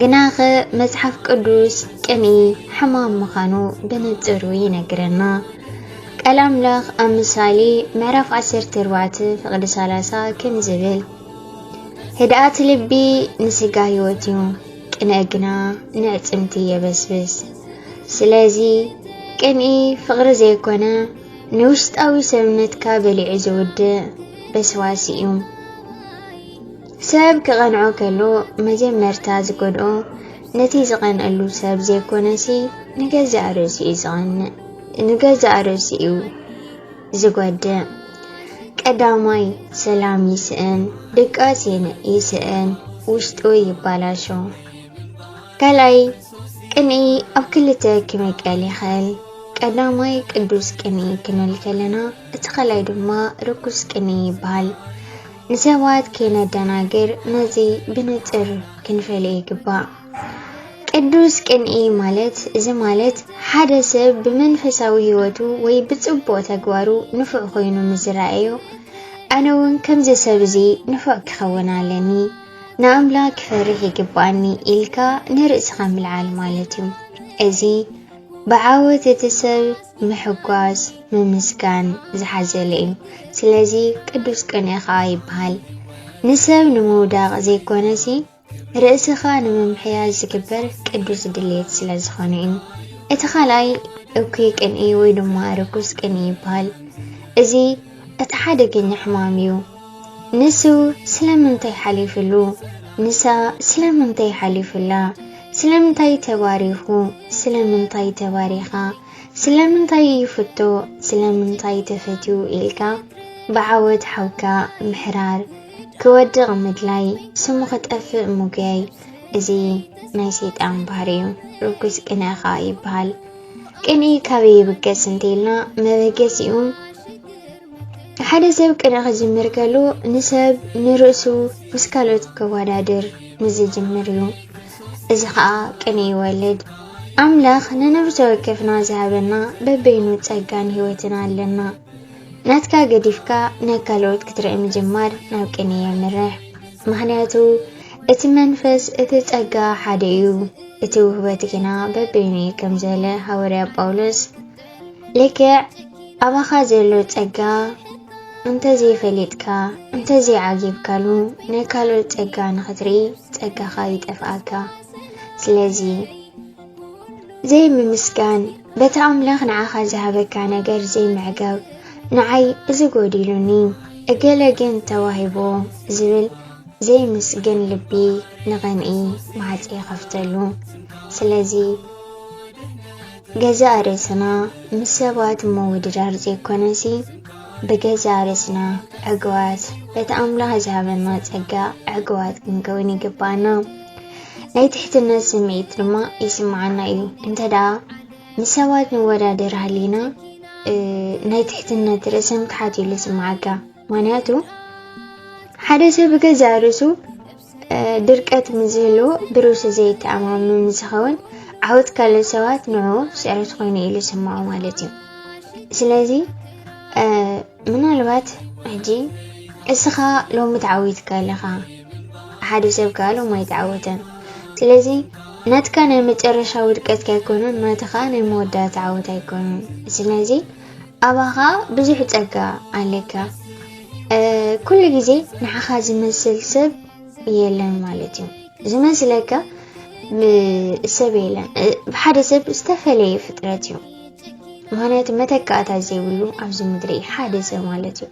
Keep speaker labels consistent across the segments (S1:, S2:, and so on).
S1: ግናኸ መጽሓፍ ቅዱስ ቅንኢ ሕማም ምዃኑ ብንጽሩ ይነግረና። ቃል ኣምላኽ ኣብ ምሳሌ ምዕራፍ 14 ፍቕዲ 30 ከም ዝብል ህድኣት ልቢ ንስጋ ህይወት እዩ፣ ቅንኢ ግና ንዕጽምቲ የበስብስ። ስለዚ ቅንኢ ፍቕሪ ዘይኮነ ንውሽጣዊ ሰብነትካ በሊዑ ዝውድእ በስባሲ እዩ። ሰብ ክቐንዖ ከሎ መጀመርታ ዝጎድኦ ነቲ ዝቐንኣሉ ሰብ ዘይኮነሲ ንገዛእ ርእሱ እዩ ዝቐንእ ንገዛእ ርእሱ እዩ ዝጎድእ። ቀዳማይ ሰላም ይስእን፣ ድቃስ ይስእን፣ ውሽጡ ይባላሾ። ካልኣይ ቅንኢ ኣብ ክልተ ክምቀል ይኽእል። ቀዳማይ ቅዱስ ቅንኢ ክንብል ከለና እቲ ካልኣይ ድማ ርኩስ ቅንኢ ይበሃል። ንሰባት ከይነደናግር ነዚ ብንጽር ክንፈልዮ ይግባእ። ቅዱስ ቅንኢ ማለት እዚ ማለት ሓደ ሰብ ብመንፈሳዊ ህይወቱ ወይ ብጽቡቕ ተግባሩ ንፉዕ ኮይኑ ምስ ዝረኣዮ ኣነ እውን ከምዚ ሰብ እዚ ንፉዕ ክኸውን ኣለኒ ንኣምላኽ ክፈርሕ ይግባኣኒ ኢልካ ንርእስኻ ምልዓል ማለት እዩ። እዚ ብዓወት እቲ ሰብ ምሕጓስ ምምስጋን ዝሓዘለ እዩ። ስለዚ ቅዱስ ቅንኢ ኸኣ ይበሃል። ንሰብ ንምውዳቕ ዘይኮነሲ ርእስኻ ንምምሕያሽ ዝግበር ቅዱስ ድሌት ስለ ዝኾነ እዩ። እቲ ካልኣይ እኩይ ቅንኢ ወይ ድማ ርኩስ ቅንኢ ይበሃል። እዚ እቲ ሓደገኛ ሕማም እዩ። ንሱ ስለምንታይ ሓሊፍሉ? ንሳ ስለምንታይ ሓሊፍላ? ስለምንታይ ተባሪኹ? ስለምንታይ ተባሪኻ? ስለምንታይ ይፍቶ? ስለምንታይ ተፈትዩ? ኢልካ ብዓወት ሓውካ ምሕራር፣ ክወድቕ ምድላይ፣ ስሙ ክጠፍእ ምጉያይ እዚ ናይ ሰይጣን ባህሪ እዩ። ርኩስ ቅንኢ ኸኣ ይበሃል። ቅንኢ ካበይ ይብገስ እንተይልና መበገሲኡ ሓደ ሰብ ቅነ ክጅምር ከሉ ንሰብ ንርእሱ ምስ ካልኦት ከወዳድር ንዝጅምር እዩ እዚ ከዓ ቅነ ይወልድ ኣምላኽ ንነብሰ ወከፍና ዝሃበና በበይኑ ጸጋን ህይወትን ኣለና ናትካ ገዲፍካ ናይ ካልኦት ክትርኢ ምጅማር ናብ ቅነ የምርሕ ምክንያቱ እቲ መንፈስ እቲ ጸጋ ሓደ እዩ እቲ ውህበት ግና በበይኑ እዩ ከም ዝበለ ሃወርያ ጳውሎስ ልክዕ ኣባኻ ዘሎ ጸጋ እንተዘይፈሊጥካ እንተዘይዓጊብካሉ ናይ ካልኦት ጸጋ ንኽትርኢ ጸጋኻ ይጠፍኣካ ስለዚ ዘይምምስጋን በቲ ኣምላኽ ንዓኻ ዝሃበካ ነገር ዘይምዕጋብ ንዓይ እዚ ጎዲሉኒ እገለ ግን ተዋሂቦ ዝብል ዘይምስግን ልቢ ንቕንኢ ማዕፀ ይኸፍተሉ ስለዚ ገዛእ ርእስና ምስ ሰባት ምውድዳር ዘይኮነሲ ብገዛእ ርእስና ዕግባት በቲ ኣምላኽ ዝሃበና ጸጋ ዕግባት ክንከውን ይግባኣና። ናይ ትሕትነት ስምዒት ድማ ይስምዓና እዩ። እንተ ደኣ ምስ ሰባት ንወዳደር ሃሊና ናይ ትሕትነት ርእሰ ምትሓት ኢሉ ዝስምዓካ ምክንያቱ ሓደ ሰብ ብገዛእ ርእሱ ድርቀት ምስዝህልዎ ብርእሱ ዘይተኣማመን ምስዝኸውን ዓወት ካልኦት ሰባት ንዕኡ ስዕረት ኮይኑ ኢሉ ይስምዖ ማለት እዩ ስለዚ ምናልባት ሕጂ እስኻ ሎሚ ተዓዊትካ ኣለኻ ሓደ ሰብ ከዓ ሎም ኣይተዓወተን ስለዚ ናትካ ናይ መጨረሻ ውድቀትካ ኣይኮነን ናትኻ ናይ መወዳእታ ዓወት ኣይኮነን ስለዚ ኣባኻ ብዙሕ ጸጋ ኣለካ ኩሉ ግዜ ንዓኻ ዝመስል ሰብ የለን ማለት እዩ ዝመስለካ ሰብ የለን ሓደ ሰብ ዝተፈለየ ፍጥረት እዩ ምክንያቱ መተካእታ ዘይብሉ ኣብዚ ምድሪ ሓደ ሰብ ማለት እዩ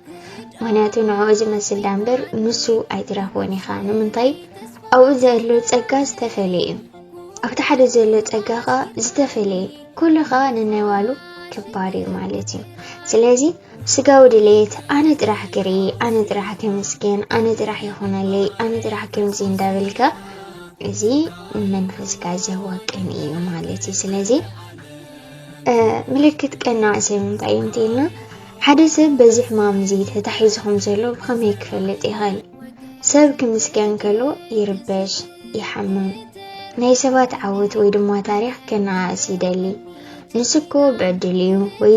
S1: ምክንያቱ ንዕኡ ዝመስል ዳ እምበር ንሱ ኣይትረኽቦን ኢኻ ንምንታይ ኣብኡ ዘሎ ፀጋ ዝተፈለየ እዩ ኣብቲ ሓደ ዘሎ ፀጋ ከዓ ዝተፈለየ ኩሉ ከኣ ንናይዋሉ ክባር እዩ ማለት እዩ ስለዚ ስጋዊ ድሌት ኣነ ጥራሕ ክርኢ ኣነ ጥራሕ ክምስገን ኣነ ጥራሕ ይኾነለይ ኣነ ጥራሕ ከምዚ እንዳበልካ እዚ መንፈስካ ዘዋቅን እዩ ማለት እዩ ስለዚ ምልክት ቀናዕ ሰብ እንታይ እዩ እንተኢልና ሓደ ሰብ በዚ ሕማም እዚ ተታሒዙ ከም ዘሎ ብኸመይ ክፈልጥ ይኽእል ሰብ ክምስገን ከሎ ይርበሽ ይሓምም ናይ ሰባት ዓወት ወይ ድማ ታሪክ ከነኣእስ ይደሊ ንሱ እኮ ብዕድል እዩ ወይ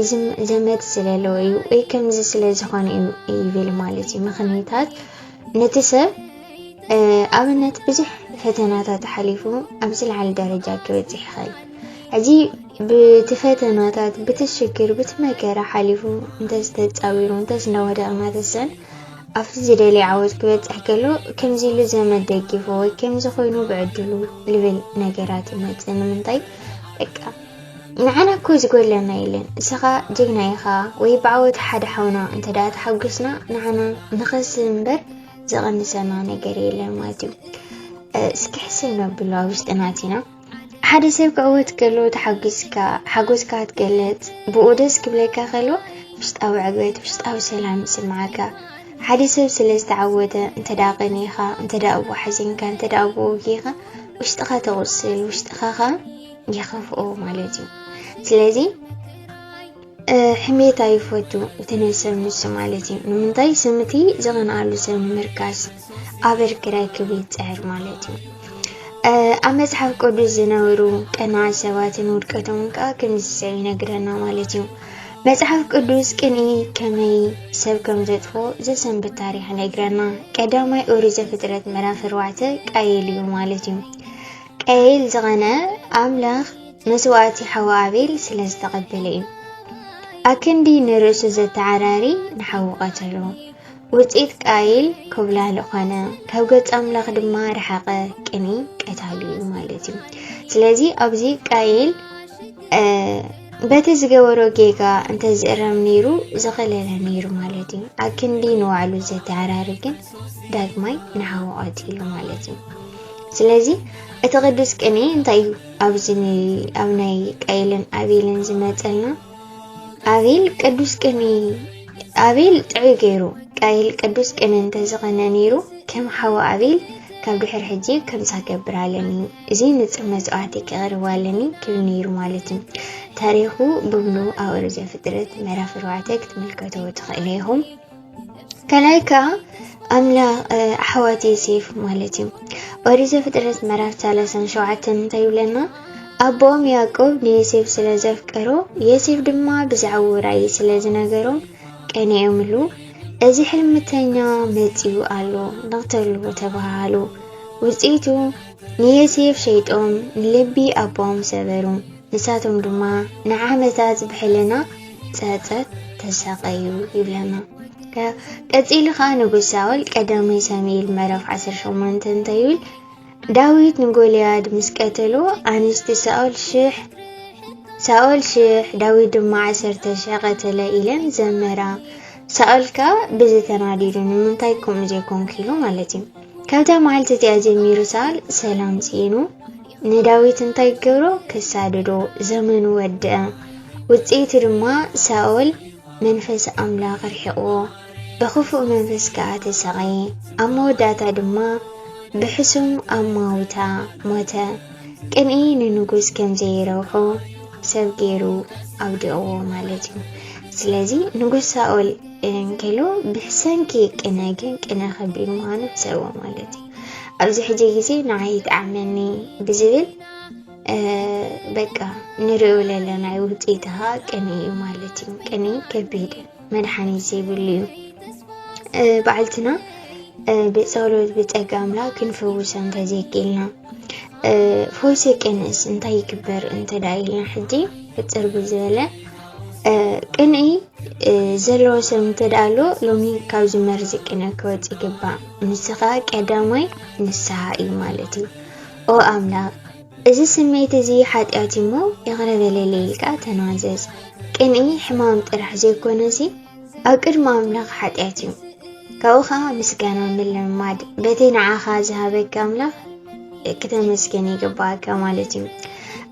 S1: ዘመድ ስለለዎ እዩ ወይ ከምዚ ስለ ዝኾነ እዩ ይብል ማለት እዩ ምክንያታት ነቲ ሰብ ኣብነት ብዙሕ ፈተናታት ሓሊፉ ኣብ ዝለዓለ ደረጃ ክበፅሕ ይኽእል ሕዚ ብቲ ፈተናታት ብቲ ሽግር ብቲ መከራ ሓሊፉ እንተዝተፃዊሩ እንተዝነወደቕ እናተሰን ኣብቲ ዝደልዮ ዓወት ክበጽሕ ከሎ ከምዚ ኢሉ ዘመድ ደጊፉ ወይ ከምዚ ኮይኑ ብዕድሉ ልብል ነገራት ይመጽእ ንምንታይ በቃ ንዓና እኮ ዝጎለና የለን እስኻ ጀግና ኢኻ ወይ ብዓወት ሓደ ሓውና እንተ ደኣ ተሓጒስና ንዓና ንኸስ እምበር ዝቐንሰና ነገር የለን ማለት እዩ እስኪ ሕሰብ ነብሎ ኣብ ውሽጥናት ኢና ሓደ ሰብ ክዕወት ከሎ ተሓጒስካ ሓጎስካ ትገልጽ፣ ብኡ ደስ ክብለካ ከሎ ውሽጣዊ ዕግበት፣ ውሽጣዊ ሰላም ይስምዓካ። ሓደ ሰብ ስለ ዝተዓወተ እንተ ደኣ ቀኒኻ፣ እንተ ደኣ እዎ ሓዚንካ፣ እንተ ደኣ እዎ ውጊኻ ውሽጥኻ ተቑስል፣ ውሽጥኻ ኸ ይኸፍኦ ማለት እዩ። ስለዚ ሕሜት ኣይፈቱ እቲ ናይ ሰብ ንሱ ማለት እዩ ንምንታይ ስም እቲ ዝቐንኣሉ ሰብ ንምርካስ ኣበር ክራይ ክብ ይፅዕር ማለት እዩ ኣብ መፅሓፍ ቅዱስ ዝነበሩ ቀናት ሰባትን ውድቀቶም ከዓ ከምዚ ሰብ ይነግረና ማለት እዩ መፅሓፍ ቅዱስ ቅኒ ከመይ ሰብ ከም ዘጥፎ ዘሰንብት ታሪክ ይነግረና ቀዳማይ ኦሪት ዘፍጥረት ምዕራፍ ኣርባዕተ ቃየል እዩ ማለት እዩ ቀይል ዝቐነ ኣምላኽ መስዋእቲ ሓው ኣቤል ስለ ዝተቐበለ እዩ። ኣክንዲ ንርእሱ ዘተዓራሪ ንሓው ቀተሎ። ውፅኢት ቃይል ኮብላሊ ኾነ፣ ካብ ገጽ ኣምላኽ ድማ ረሓቐ። ቅኒ ቀታሊ እዩ ማለት እዩ። ስለዚ ኣብዚ ቃይል በቲ ዝገበሮ ጌጋ እንተዝእረም ነይሩ ዝኸለለ ነይሩ ማለት እዩ። ኣክንዲ ንባዕሉ ዘተዓራሪ ግን ዳግማይ ንሓዉ ቀቲሉ ማለት እዩ ስለዚ እቲ ቅዱስ ቅኔ እንታይ እዩ ኣብዚ ኣብ ናይ ቀይልን ኣቤልን ዝመፀልና ኣቤል ቅዱስ ቅኔ ኣቤል ጥዑይ ገይሩ ቃይል ቅዱስ ቅነ እንተዝኾነ ነይሩ ከም ሓወ ኣቤል ካብ ድሕር ሕጂ ከምሳ ገብር ኣለኒ እዚ ንፅር መስዋዕቲ ክቕርብ ኣለኒ ክብል ነይሩ ማለት እዩ ታሪኹ ብምሉ ኣወርዘ ፍጥረት ምዕራፍ ኣርባዕተ ክትምልከተዎ ትኽእለ ኢኹም ካልኣይ ከዓ ኣምላኽ ኣሕዋት ዮሴፍ ማለት እዩ ኦሪት ዘፍጥረት ምዕራፍ ሰላሳን ሸውዓተን እንታይ ይብለና ኣቦኦም ያዕቆብ ንዮሴፍ ስለ ዘፍቀሮ ዮሴፍ ድማ ብዛዕባ ራእይ ስለ ዝነገሮም ቀኒኦምሉ እዚ ሕልምተኛ መፂኡ ኣሎ ንክተልዎ ተባሃሉ ውፅኢቱ ንዮሴፍ ሸይጦም ንልቢ ኣቦኦም ሰበሩ ንሳቶም ድማ ንዓመታት ብሕልና ጸጸት ተሳቐዩ ይብለና። ቀጺሉ ከኣ ንጉስ ሳኦል ቀዳማይ ሳሙኤል ምዕራፍ 18 እንታይ ይብል? ዳዊት ንጎልያድ ምስ ቀተሎ ኣንስቲ ሳኦል ሽሕ ሳኦል ሽሕ ዳዊት ድማ ዓሰርተ ሽሕ ቀተለ ኢለን ዘመራ ሳኦል ከዓ ብዚ ተናዲዱ ንምንታይ ከምኡ ዘይኮንኩ ኢሉ ማለት እዩ ካብታ መዓልቲ እቲኣ ጀሚሩ ሳኦል ሰላም ስኢኑ ንዳዊት እንታይ ክገብሮ ክሳድዶ ዘመኑ ወድአ ውጽኢቱ ድማ ሳኦል መንፈስ ኣምላኽ ርሒቕዎ ብኽፉእ መንፈስ ከኣ ተሰቐየ ኣብ መወዳእታ ድማ ብሕሱም ኣማውታ ሞተ ቅንኢ ንንጉስ ከም ዘይረብሖ ሰብ ገይሩ ኣውዲቕዎ ማለት እዩ ስለዚ ንጉስ ሳኦል እንከሎ ብሰንኪ ቅነ ግን ቅነ ከቢድ ምዃኑ ሕሰቦ ማለት እዩ ኣብዚ ሕጂ ግዜ ንዓይ ይጥዓመኒ ብዝብል በቃ ንሪኦ ዘለና እዩ ውፅኢት ከዓ ቅኒ እዩ ማለት እዩ ቅኒ ከቢድ መድሓኒት ዘይብሉ እዩ በዓልትና ብፀሎት ብፀጋ ኣምላክ ክንፍውሰ እንተዘይክኢልና ፈውሲ ቅንስ እንታይ ይግበር እንተዳ ኢልና ሕጂ ሕፅር ብዝበለ ቅንኢ ዘለዎ ሰብ እንተ ደኣ ኣሎ ሎሚ ካብዚ መርዚ ቅነ ክወፅእ ይግባእ ንሱ ከዓ ቀዳማይ ንስሓ እዩ ማለት እዩ ኦ ኣምላኽ እዚ ስሜት እዚ ሓጢኣት እሞ ይቕረ በለለይ ኢልካ ተናዘዝ ቅንኢ ሕማም ጥራሕ ዘይኮነሲ ኣብ ቅድሚ ኣምላኽ ሓጢኣት እዩ ካብኡ ከዓ ምስጋና ምልምማድ በቲ ንዓኻ ዝሃበካ ኣምላኽ ክተመስገን ይግባእካ ማለት እዩ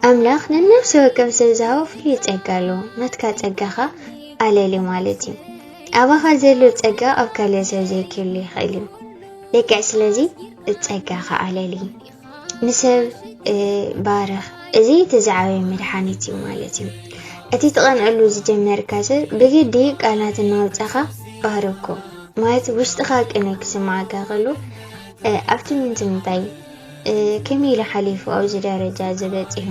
S1: ኣምላኽ ንነፍሲ ወከፍ ሰብ ዝሃቦ ፍሉይ ጸጋ ኣሎ ናትካ ጸጋኻ ኣለሊ ማለት እዩ ኣባኻ ዘሎ ጸጋ ኣብ ካልእ ሰብ ዘይክህሉ ይኽእል እዩ ልክዕ ስለዚ ጸጋኻ ኣለሊ ንሰብ ባርኽ። እዚ እቲ ዝዓበየ መድሓኒት እዩ ማለት እዩ። እቲ ትቐንዐሉ ዝጀመርካ ሰብ ብግዲ ቃላት እናውፃኻ ባህርኮ ማለት ውሽጥኻ ቅነ ክስምዓካ ከሎ ኣብቲ ምንቲ ምንታይ ከመይ ኢሉ ሓሊፉ ኣብዚ ደረጃ ዝበፂሑ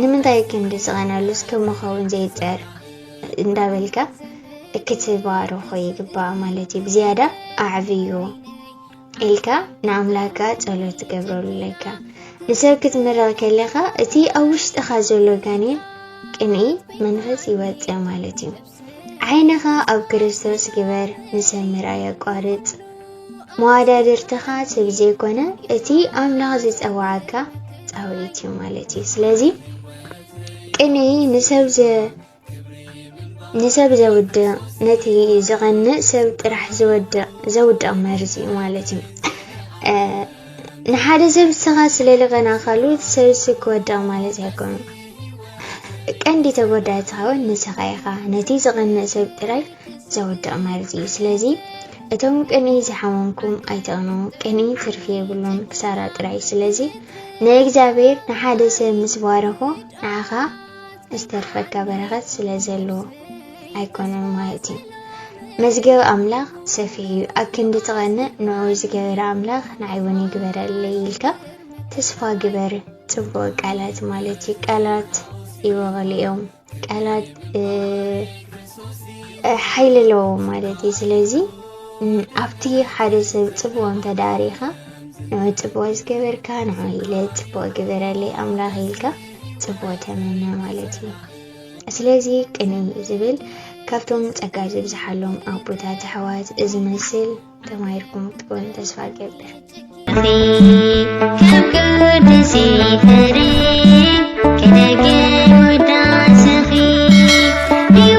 S1: ንምንታይ ክንዲ ዝቐንዐሉስ ከመኸውን ዘይፀር እንዳበልካ ክትባርኾ ይግባእ ማለት እዩ። ብዝያዳ ኣዕብዮ ኢልካ ንኣምላካ ጸሎት ትገብረሉ ኣለካ ንሰብ ክትምርቕ ከለኻ እቲ ኣብ ውሽጥኻ ዘሎ ጋኔን ቅንኢ መንፈስ ይወፅእ ማለት እዩ ዓይንኻ ኣብ ክርስቶስ ግበር ንሰብ ምርኣይ ኣቋርፅ መዋዳድርትኻ ሰብ ዘይኮነ እቲ ኣምላኽ ዝፀዋዓካ ፃውዒት እዩ ማለት እዩ ስለዚ ቅንኢ ንሰብ ንሰብ ዘውድቕ ነቲ ዝቐንእ ሰብ ጥራሕ ዝወድቕ ዘውድቕ መርዚ እዩ ማለት እዩ ንሓደ ሰብ ስኻ ስለ ልቐናኻሉ እቲ ሰብ ሲ ክወድቕ ማለት ኣይኮኑ ቀንዲ ተጎዳኢ ትኸውን ንስኻ ኢኻ ነቲ ዝቐንእ ሰብ ጥራይ ዘውድቕ መርዚ እዩ ስለዚ እቶም ቅንኢ ዝሓመምኩም ኣይተቕኑ ቅንኢ ትርፊ የብሉን ክሳራ ጥራይ ስለዚ ንእግዚኣብሔር ንሓደ ሰብ ምስ ባረኾ ንዓኻ ዝተርፈካ በረኸት ስለ ዘለዎ ኣይኮነን ማለት እዩ። መዝገብ ኣምላኽ ሰፊሕ እዩ። ኣክንዲ ትቐንእ ንዑ ዝገበረ ኣምላኽ ንዓይ እውን ይግበረለይ ኢልካ ተስፋ ግበር። ጽቡቕ ቃላት ማለት እዩ። ቃላት ይበቕሉ እዮም። ቃላት ሓይሊ ኣለዎ ማለት እዩ። ስለዚ ኣብቲ ሓደ ሰብ ጽቡቕ እንተ ዳሪኻ ንዑ ጽቡቕ ዝገበርካ ንዑ ኢለ ጽቡቕ ግበረለይ ኣምላኽ ኢልካ ፅቡቅ ተመነ ማለት እዩ። ስለዚ ቅንይ እዩ ዝብል ካብቶም ጸጋ ዝብዝሓሎም ኣቦታት ኣሕዋት እዚ መስል ተማሂርኩም ክትኮኑ ተስፋ ገብር ከም ቅዱስ ፍሬ